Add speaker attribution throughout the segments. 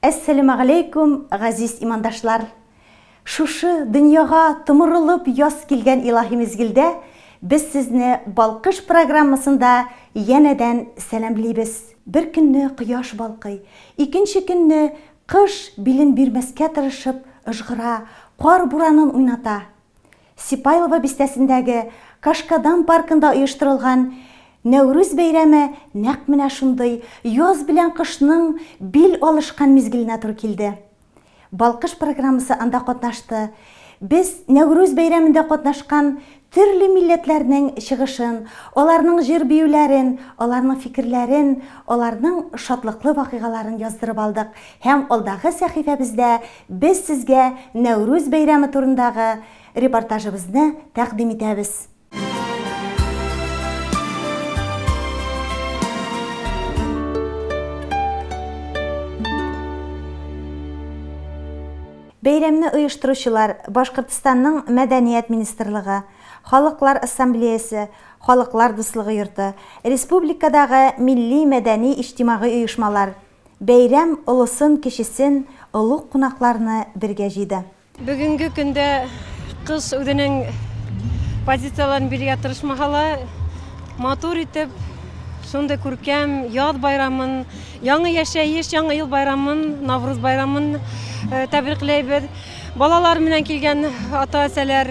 Speaker 1: Әссәләмәгаләйкүм, газиз имандашлар! Шушы дөньяга томырылып яз килгән илаһи мизгелдә без сезне Балкыш программасында янәдән сәламлибез. Бер көнне кояш балкый, икенче көнне кыш билен бирмәскә тырышып ыжгыра, кар буранын уйната. Сипайлово бистәсендәге Кашкадан паркында оештырылган Нәүрүз бәйрәме нәкъ менә шундый яз белән кышның бил алышкан мизгеленә туры килде. Балкыш программасы анда катнашты. Без Нәүрүз бәйрәмендә катнашкан төрле милләтләрнең чыгышын, аларның җыр-биюләрен, аларның фикерләрен, аларның шатлыклы вакыйгаларын яздырып алдык һәм алдагы сәхифәбездә Без сезгә Нәүрүз бәйрәме турындагы репортажыбызны тәкъдим итәбез. Бәйрәмне оештыручылар Башкортстанның Мәдәният министрлыгы, Халыклар ассамблеясе, Халыклар дуслыгы йорты, республикадагы милли-мәдәни-иҗтимагый оешмалар, Бәйрәм олысын-кечесен, олуг кунакларны бергә җыйды. Бүгенге көндә
Speaker 2: кыз үзенең позицияләрен бирергә тырышмаса да, матур итеп, шундый күркәм яз байрамын, яңа яшәеш, яңа ел байрамын, Навруз байрамын тәбрикләйбез. Балалар белән килгән ата-әсәләр.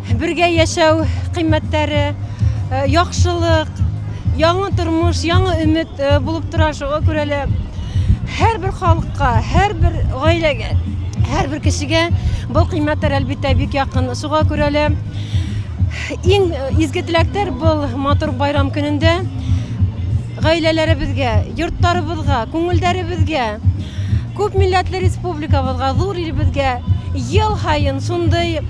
Speaker 2: Бергә яшәү кыйммәттәре, яхшылык, яңа тормыш, яңа өмет булып тора. Шуңа күрә лә һәрбер халыкка, һәрбер гаиләгә, һәрбер кешегә бу кыйммәттәр, әлбиттә, бик якын. Шуңа күрә лә иң изге теләктәр бу матур байрам көнендә Гаиләләребезгә, йортларыбызга, күңелдәребезгә, күп милләтле республикабызга, зур илебезгә ел һаен шундый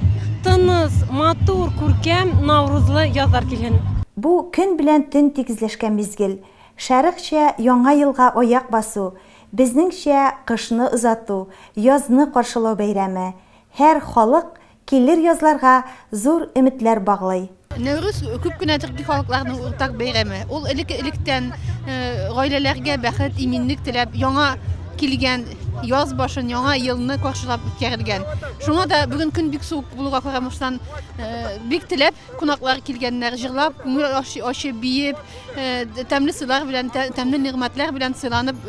Speaker 2: тыныс, матур, күркәм Наурызлы язлар килһен! Бу, көн белән
Speaker 1: төн тигезләшкән мизгел. Шәрыкча Яңа елга аяк басу, безнеңчә, кышны озату, язны каршылау бәйрәме. Һәр халык Килер язларга зур өметләр баглый. Нәүрүз күп
Speaker 3: кенә төрки халыкларның уртак бәйрәме. Ул элек-электән гаиләләргә бәхет, иминлек теләп, яңа килгән яз башын, яңа елны каршылап үткәрелгән. Шуңа да бүген көн бик суык булуга карамыштан, бик теләп кунаклар килгәннәр, җырлап, күңел ачы биеп, тәмле сыйлар белән, тәмле нигъмәтләр белән сыйланып,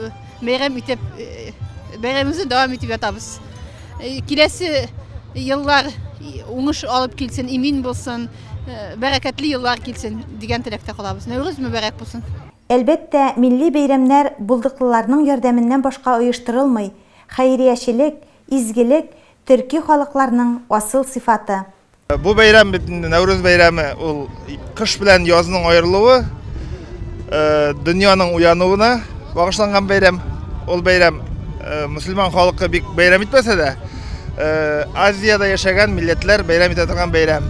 Speaker 3: бәйрәм итеп, бәйрәмебезне дәвам итеп ятабыз. Э, киләсе еллар уңыш алып килсен, имин булсын, э, бәрәкәтле еллар килсен дигән теләктә калабыз. Нәүрүз мөбәрәк булсын. Әлбәттә,
Speaker 1: милли бәйрәмнәр булдыклыларның ярдәменнән башка оештырылмый. Хәйриячелек, изгелек, төрки халыкларның асыл сыйфаты. Бу бәйрәм
Speaker 4: бит инде Нәүрүз бәйрәме, ул кыш белән язның аерылуы, э, дөньяның уянуына багышланган бәйрәм. Ул бәйрәм э, мөселман халкы бик бәйрәм итмәсә дә, э, Азиядә яшәгән милләтләр бәйрәм итә торган бәйрәм.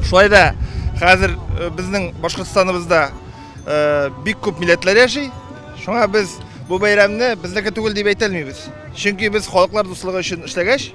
Speaker 4: Шулай да хәзер э, безнең Башкортстаныбызда э, бик күп милләтләр яши. Шуңа без бу бәйрәмне безнеке түгел дип әйтә алмыйбыз. Чөнки без халыклар дуслыгы өчен эшләгәч,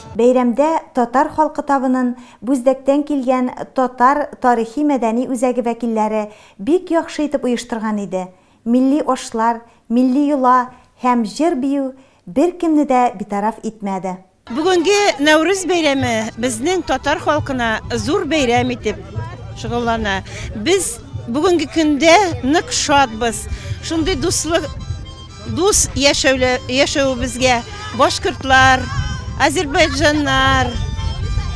Speaker 4: Бәйрәмдә Татар
Speaker 1: халкы табынын Бүздәктән килгән Татар тарихи-мәдәни үзәге вәкилләре бик яхшы итеп оештырган иде, милли ашлар, милли йола һәм җыр-бию беркемне дә битараф итмәде. Бүгенге
Speaker 5: Нәүрүз бәйрәме безнең татар халкына зур бәйрәм итеп шөгыльләнә. Без бүгенге көндә нык шатбыз, шундый дуслык, Дус яшәвебезгә башкортлар, азербайҗаннар,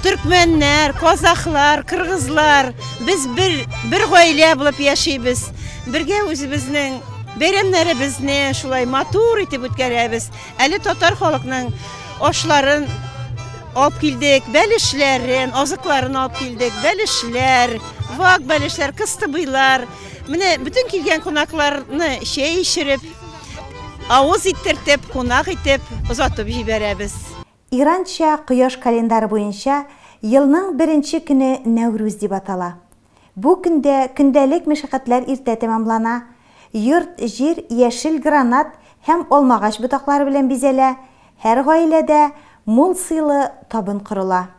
Speaker 5: төркмәннәр, казахлар, кыргызлар, без бер гаилә булып яшибез. Бергә үзебезнең бәйрәмнәребезне шулай матур итеп үткәрәбез. Әле татар халыкның ашларын алып килдек, бәлешләрен, азыкларын алып килдек, бәлешләр, вак бәлешләр, кыстыбыйлар. Менә бөтен килгән кунакларны чәй эчереп, авыз иттертеп, кунак итеп озатып җибәрәбез. Иранча
Speaker 1: кояш календаре буенча елның беренче көне Нәүрүз дип атала. Бу көндә көндәлек мәшәкатьләр иртә тәмамлана, йорт-җир яшел гранат һәм алмагач ботаклары белән бизәлә, һәр гаиләдә мул сыйлы табын корыла.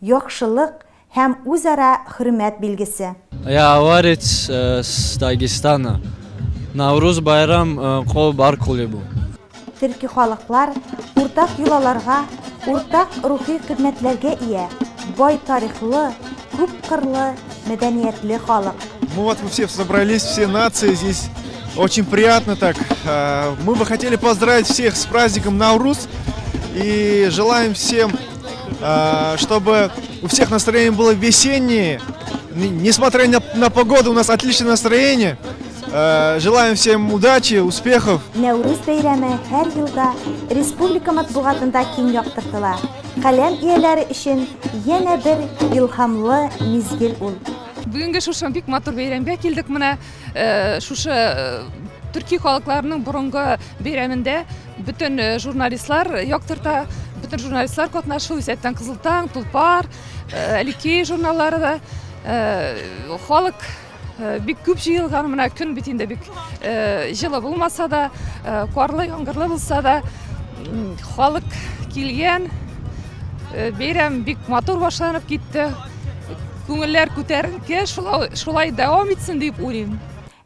Speaker 1: Яхшылык һәм үзара хөрмәт билгесе. Я аварец
Speaker 6: с Дагестана. Наурыз байрам ко бар кулебу. Төрки
Speaker 1: халыклар уртак йолаларга, уртак рухи кыйммәтләргә ия, бай тарихлы, күп кырлы, мәдәниятле халык. Мы вот мы все
Speaker 7: собрались, все нации здесь. Очень приятно так. Мы бы хотели поздравить всех с праздником Наурус и желаем всем А, чтобы у всех настроение было весеннее. Несмотря на, на погоду, у нас отличное настроение. Э, желаем всем удачи, успехов. Нәүрүз бәйрәме
Speaker 1: һәр елда республика матбугатында киң яктыртыла. Каләм ияләре өчен янә бер илһамлы мизгел ул. Бүгенге шушы
Speaker 8: бик матур бәйрәмгә килдек менә. Э, шушы э, төрки халыкларының борынгы бәйрәмендә бөтен э, журналистлар яктырта бөтен журналистлар катнашу исәттән кызыл таң тулпар әлики журналлары да халык бик күп җыелган менә көн бит инде бик җылы булмаса да карлы яңгырлы булса да халык килгән бәйрәм бик матур башланып китте күңелләр күтәренке, шулай, шулай дәвам итсен дип уйлыйм.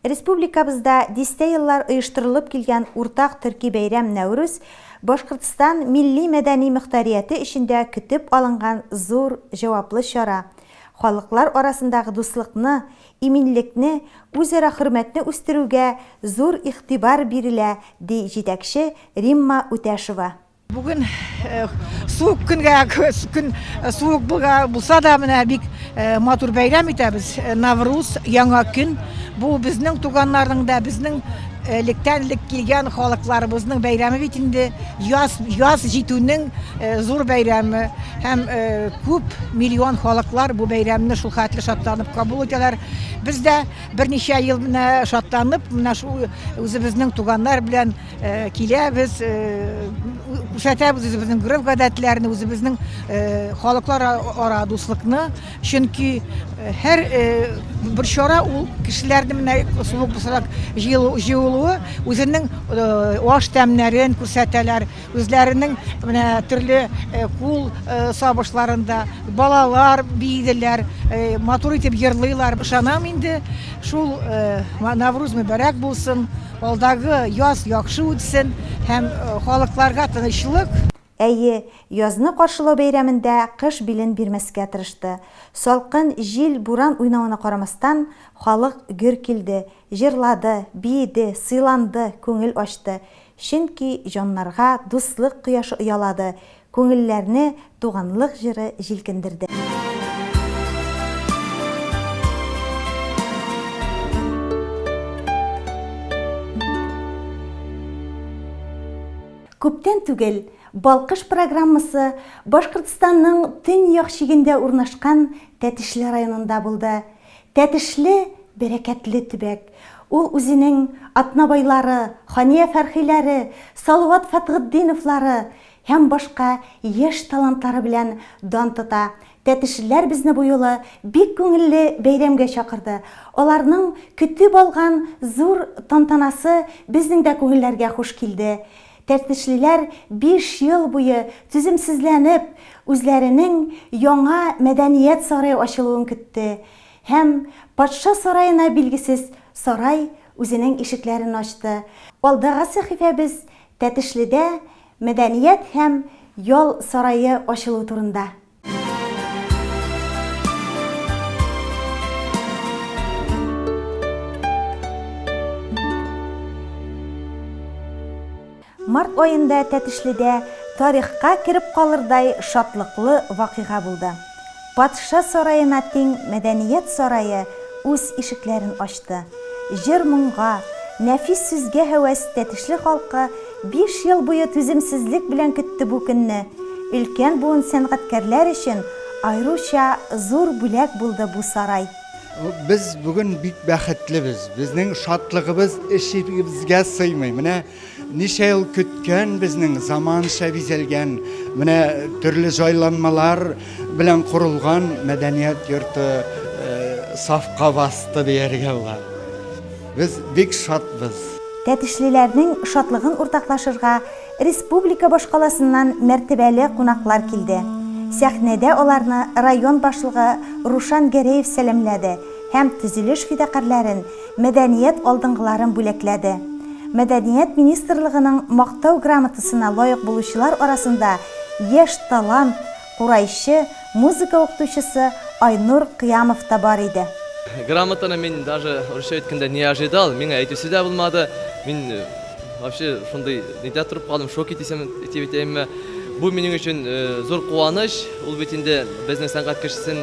Speaker 8: Республикабызда
Speaker 1: дистә еллар оештырылып килгән уртак төрки бәйрәм Нәүрүз Башкортстан милли-мәдәни мөхтәрияте эчендә көтеп алынган зур, җаваплы чара, халыклар арасындагы дуслыкны, иминлекне, үзара хөрмәтне үстерүгә зур игътибар бирелә, ди җитәкче Римма Үтәшева. Бүген
Speaker 9: суык көнгә, көн суык булса да, менә бик матур бәйрәм итәбез. Навруз, яңа көн. Бу безнең туганнарның да, безнең электән элек килгән халыкларыбызның бәйрәме бит инде. Яз, яз җитүнең зур бәйрәме. Һәм күп миллион халыклар бу бәйрәмне шул хәтле шатланып кабул итәләр. Без дә берничә ел менә шатланып, менә шул үзебезнең туганнар белән Киләбез, күрсәтәбез үзебезнең гореф-гадәтләрне, үзебезнең халыклар ара дуслыкны. Чөнки һәр бер чара ул кешеләрне менә шулай булсарак җыелуы үзенең аш тәмнәрен күрсәтәләр, үзләренең менә төрле кул сабышларын да, балалар биеделәр, матур итеп җырлыйлар. Ышанам инде, шул Навруз мөбарәк булсын. Алдагы яз яхшы үтсен һәм халыкларга тынычлык. Әйе,
Speaker 1: язны каршылау бәйрәмендә кыш билен бирмәскә тырышты. Салкын җил, буран уйнавына карамастан, халык гөр килде, җырлады, биеде, сыйланды, күңел ачты. Чөнки җаннарга дуслык кояшы оялады, Күңелләрне туганлык җыры җилкендерде. Күптән түгел Балкыш программасы Башкортстанның төньяк чигендә урнашкан Тәтешле районында булды. Тәтешле, бәрәкәтле төбәк. Ул үзенең Атнабайлары, Хания Фәрхиләре, Салават Фәтхетдиновлары, һәм башка яшь талантлары белән дан тота. Тәтешлеләр безне бу юлы бик күңелле бәйрәмгә чакырды. Аларның көтеп алган зур тантанасы безнең дә күңелләргә хуш килде. Тәтешлеләр биш ел буе түземсезләнеп, үзләренең яңа мәдәният сарае ачылуын көтте. Һәм Патша сараена билгесез сарай үзенең ишекләрен ачты. Алдагы сәхифәбез Тәтешледә мәдәният һәм ял сарае ачылу турында. Март аенда Тәтешледә тарихка кереп калырдай шатлыклы вакыйга булды. Патша сараена тиң Мәдәният сарае үз ишекләрен ачты. Җыр-моңга, нәфис сүзгә һәвәс Тәтешле халкы биш ел буе түземсезлек белән көтте бу көнне. Өлкән буын сәнгатькәрләр өчен аеруча зур бүләк булды бу сарай. Без
Speaker 10: бүген бик бәхетлебез. Безнең шатлыгыбыз эчебезгә сыймый. Менә Ничә ел көткән безнең заманча бизәлгән, менә төрле җайланмалар белән корылган мәдәният йорты сафка басты дияргә була. Без бик шатбыз. Тәтешлеләрнең
Speaker 1: шатлыгын уртаклашырга республика башкаласыннан мәртәбәле кунаклар килде. Сәхнәдә аларны район башлыгы Рушан Гәрәев сәламләде һәм төзелеш фидакарьләрен мәдәният алдынгыларын бүләкләде. Мәдәният министрлыгының Мактау грамотасына лаек булучылар арасында яшь талант, курайчы, музыка укытучысы Айнур Кыямов та бар иде. Грамотаны мин
Speaker 6: даже русча әйткәндә не ожидал, миңа әйтүсе дә булмады. Мин вообще шундый нидә торып калдым, шоки дисәм, дип әйтәемме. Бу минем өчен зур куаныч, ул бит инде безнең сәнгать кешесен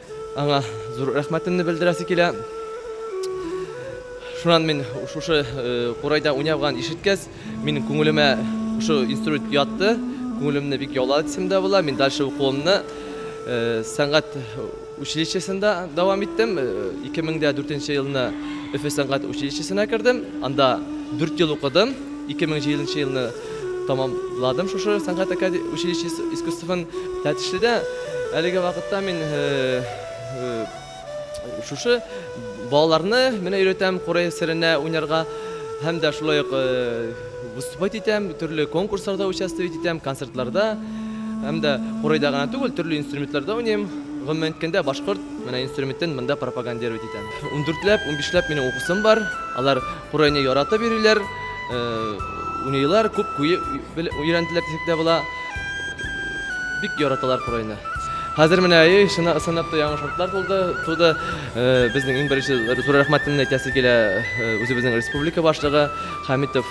Speaker 6: Аңа зур рәхмәтемне белдерәсе килә. Шуннан мин шушы курайда уйнавган ишеткәс, мин күңелемә шушы инструмент ятты, күңелемне бик яулады дисем дә була. Мин дальше укуымны сәнгать училищесында дәвам иттем. 2004 елны Өфе сәнгать училищесына кердем. Анда 4 ел укыдым. 2007 елны Тәмамладым шушы сәнгать акаде училище искусствын Тәтешледә. Әлеге вакытта мин шушы балаларны менә өйрәтәм Курай серенә уйнарга һәм дә шулай ук выступать итәм, төрле конкурсларда участвовать итәм, концертларда һәм дә Курайда гына түгел, төрле инструментларда уйныйм. Гомумән әйткәндә, башкорт менә инструментын монда пропагандировать итәм. Ундүртләп, унбишләп минем укучым бар. Алар Курайны яратып йөриләр, уйныйлар, күп куе өйрәнделәр дисәк тә була. Бик яраталар курайны. Хәзер менә әйе, чына, ысынлап та яңа шартлар тулды, туды. Э, безнең иң беренче зур рәхмәтемне әйтәсе килә э, үзебезнең республика башлыгы Хәмитов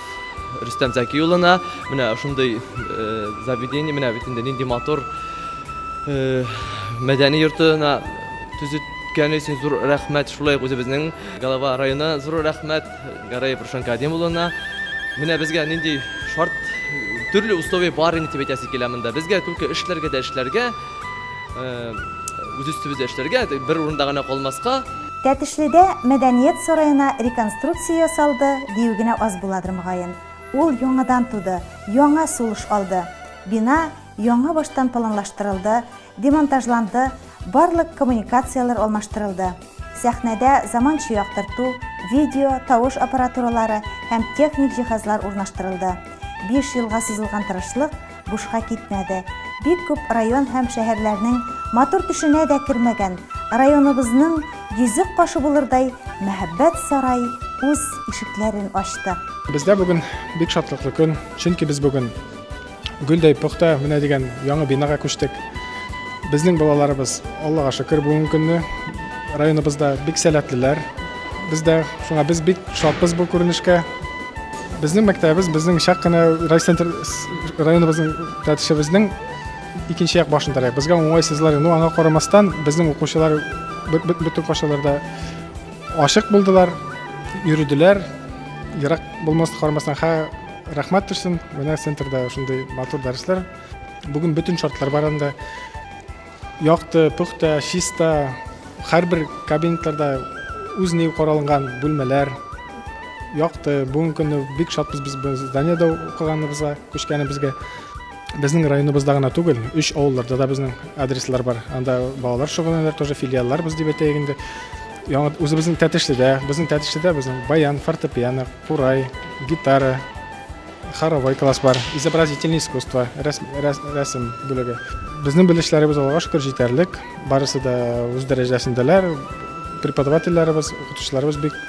Speaker 6: Рөстәм Зәки улына. Менә шундый э, заведение, менә бит инде нинди матур э, мәдәни йортына төзеткәне өчен зур рәхмәт. Шулай ук үзебезнең Галава районы зур рәхмәт Гараев Рушан Кадим улына. Менә безгә нинди шарт, төрле условия бар инде дип әйтәсе килә монда. Безгә түлке эшләргә дә эшләргә, үз өстебездә эшләргә, бер урында гына калмаска. Тәтешледә
Speaker 1: мәдәният сараена реконструкция ясалды, дию генә аз буладыр мөгаен. Ул яңадан туды, яңа сулыш алды. Бина яңа баштан планлаштырылды, Демонтажланды, барлык коммуникацияләр алмаштырылды. Сәхнәдә заманча яктырту, видео, тавыш аппаратуралары һәм техник җиһазлар урнаштырылды. Биш елга сузылган тырышлык бушка китмәде. Бик күп район һәм шәһәрләрнең матур төшенә дә кермәгән, районыбызның йөзек кашы булырдай мәһабәт сарай үз ишекләрен ачты. Бездә бүген
Speaker 11: бик шатлыклы көн, чөнки без бүген. Гөлдәй пөхтә менә дигән яңа бинага күчтек. Безнең балаларыбыз, Аллага шөкер, бүгенге көнне районыбызда бик сәләтлеләр. Без дә шуңа без бик шатбыз бу күренешкә. Безнең мәктәбебез, безнең чак кына райцентр районыбызның тәтешебезнең икенче як башында рәк. Безгә уңайсызлар, ну аңа карамастан, безнең укучылар бөтен кашаларда ашык булдылар, йөрүделәр. Ерак булмас карамастан, ха Рәхмәт төшсен, менә центрда шундый матур дәресләр. Бүген бөтен шартлар бар анда. Якты, пөхтә, чиста, һәрбер кабинетларда үз ни каралган бүлмәләр. Якты, бүгенге көнне бик шатбыз без зданиедә укыганыбызга, күчкәнебезгә. Безнең районыбызда гына түгел, өч авылларда да безнең адреслар бар. Анда балалар шөгыльләнәләр, тоже филиаллар без дип әйтәйек инде. Яңа үзебезнең Тәтешледә, безнең Тәтешледә безнең баян, фортепиано, курай, гитара, хоровой класс бар, изобразительное искусство, рәсем бүлеге. Безнең белешләребез алга шөкер җитәрлек, барысы да үз дәрәҗәсендәләр. Преподавательләребез, укытучыларыбыз бик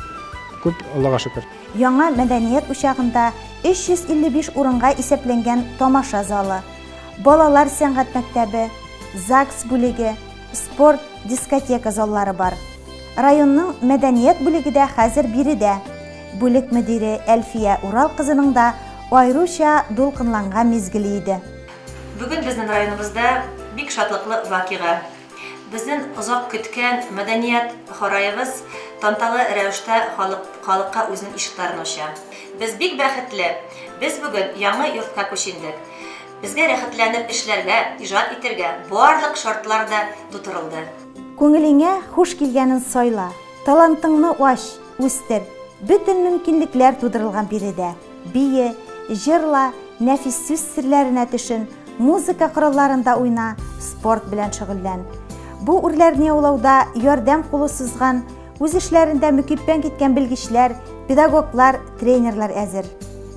Speaker 11: күп, Аллага шөкер. Яңа мәдәният
Speaker 1: учагында 355 урынга исәпләнгән тамаша залы, балалар сәнгать мәктәбе, ЗАГС бүлеге, спорт, дискотека заллары бар. Районның мәдәният бүлеге дә хәзер биредә. Бүлек мөдире Әлфия Урал кызының да аеруча дулкынланган мизгеле иде. Бүген безнең
Speaker 12: районыбызда бик шатлыклы вакыйга. Безнен озак көткән мәдәният хараебыз танталы рәвештә халык халыкка үзенен ишекләрен ача. Без бик бәхетле! Без бүген яңы йортка күчендек. Безгә рәхәтләнеп эшләргә, иҗат итергә барлык шартлар да тутырылды. Күңелеңә
Speaker 1: хуш килгәнен сайла, талантыңны ач! Үстер. Бөтен мөмкинлекләр тудырылган биредә. Бие, җырла, нәфис сүз серләренә төшен, музыка коралларында уйна, спорт белән шөгыльлән. Бу үрләрне яулауда ярдәм кулы сузган, үз эшләрендә мөкиббән киткән белгечләр, педагоглар, тренерлар әзер.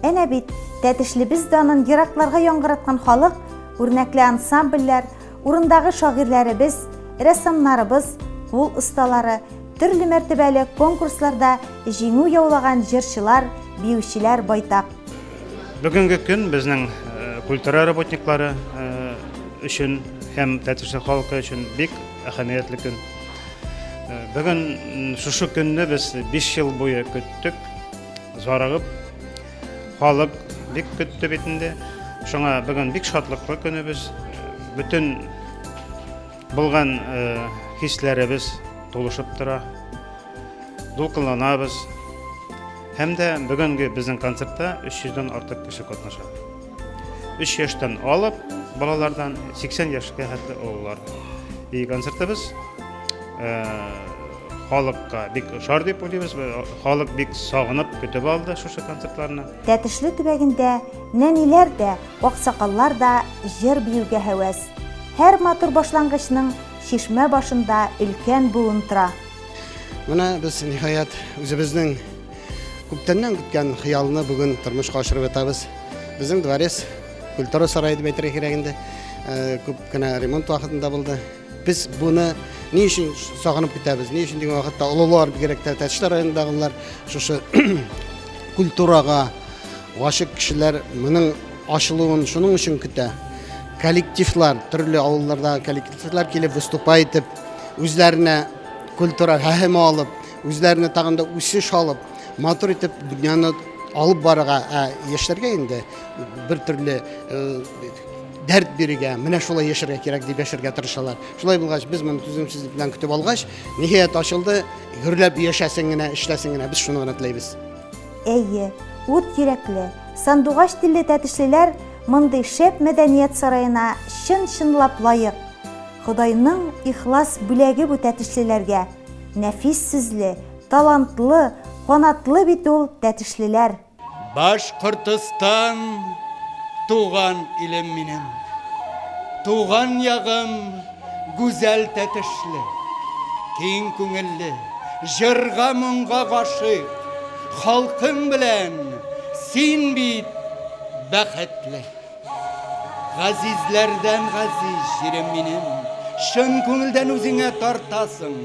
Speaker 1: Әнә бит, Тәтешлебез данын еракларга яңгыраткан халык, үрнәкле ансамбльләр, Урындагы шагыйрьләребез, рәссамнарыбыз, кул осталары, төрле мәртәбәле конкурсларда җиңү яулаган җырчылар, биючеләр байтак. Бүгенге
Speaker 13: көн безнең э, культура работниклары э, өчен һәм Тәтешле халкы өчен бик әһәмиятле көн. Э, Бүген шушы көнне без 5 ел буе көттек, зарыгып Халык бик көтте бит инде. Шуңа бүген бик шатлыклы көнебез. Бөтен булган хисләребез тулышып тора. Дулкынланабыз. Һәм дә бүгенге безнең концертта 300 дән артык кеше катнаша. 3 яшьтән алып балалардан 80 яшькә хәтле олылар. И концертыбыз э, халыкка бик ошар дип уйлыйбыз. Халык бик сагынып көтеп алды шушы концертларны. Тәтешле төбәгендә
Speaker 1: нәниләр дә, аксакаллар да җыр биюгә һәвәс. Һәр матур башлангычның чишмә башында өлкән буын тора. Менә
Speaker 14: без ниһаять үзебезнең Күптәннән көткән хыялны бүген тормышка ашырып ятабыз. Безнең дворец культура сарае дип әйтергә кирәк инде. Э, күп кенә ремонт вакытында булды. Без буны ни өчен сагынып көтәбез? Ни өчен дигән вакытта олылар бигрәк тә Тәтешле районындагылар шушы культурага гашык кешеләр моның ачылуын шуның өчен көтә. Коллективлар, төрле авылларда коллективлар килеп выступа итеп, үзләренә культура һәһеме алып, Үзләренә тагын да үсеш алып, матур итеп дөньяны алып барырга, ә яшьләргә инде бер төрле дәрт бирергә, менә шулай яшәргә кирәк дип яшәргә тырышалар. Шулай булгач, без моны түземсезлек белән көтеп алгач, ниһаять ачылды. Гөрләп яшәсен генә, эшләсен генә, без шуны гына теләйбез. Әйе,
Speaker 1: ут йөрәкле, сандугач телле тәтешлеләр мондый шәп мәдәният сараена чын-чынлап лаек. Ходайның ихлас бүләге бу тәтешлеләргә. Нәфис сүзле, талантлы, канатлы бит ул Тәтешлеләр! Башкортостан
Speaker 10: туган илем минем. Туган ягым гүзәл Тәтешле. Киң күңелле, җырга моңга гашыйк халкың белән син бит бәхетле. Газизләрдән газиз җирем минем, Чын күңелдән үзеңә тартасың.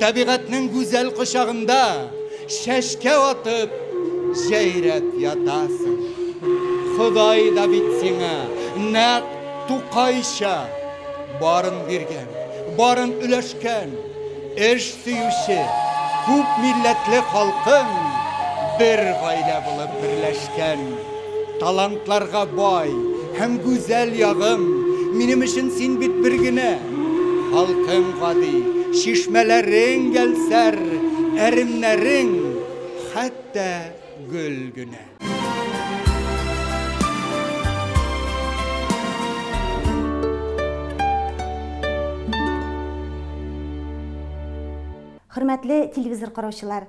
Speaker 10: Табигатьнең гүзәл кочагында Чәчкә атып, җәйрәп ятасың. Ходай да бит сиңа нәкъ Тукайча Барын биргән, барын өләшкән. Эш сөюче, күп милләтле халкың Бер гаилә булып берләшкән. Талантларга бай һәм гүзәл ягым, Минем өчен син бит бер генә. Халкың гади, чишмәләрең гәлсәр, Әремнәрең хәтта гөл генә.
Speaker 1: Хөрмәтле телевизор караучылар!